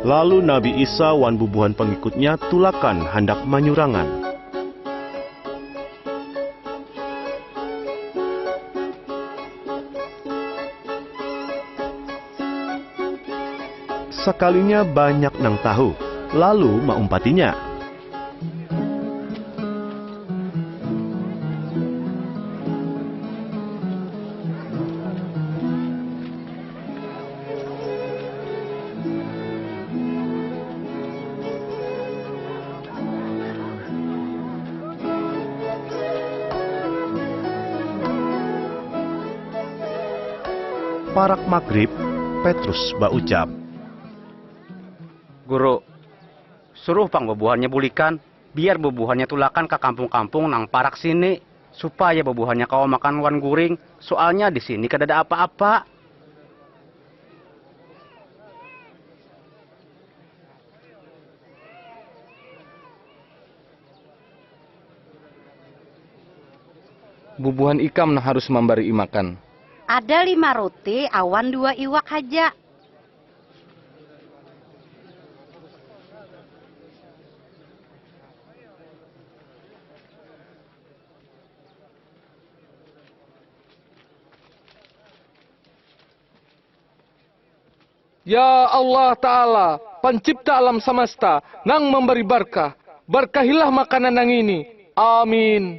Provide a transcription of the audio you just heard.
Lalu Nabi Isa wan bubuhan pangikut-Nya tulakan handak manyurangan. Sakalinya banyak nang tahu, lalu maumpati-Nya. Parak magrib, Petrus baucap. Guru. Suruh pang bubuhannya bulikan, biar bubuhannya tulakan ka kampung-kampung nang parak sini, supaya bubuhannya kawa makan wan guring, soalnya di sini kadada apa-apa. Bubuhan ikam nang harus mambarii makan. Ada lima ruti awan dua iwak haja. Ya Allah Ta'ala, pancipta alam samasta, nang mambari barkah, barkahilah makanan nangini. Amin.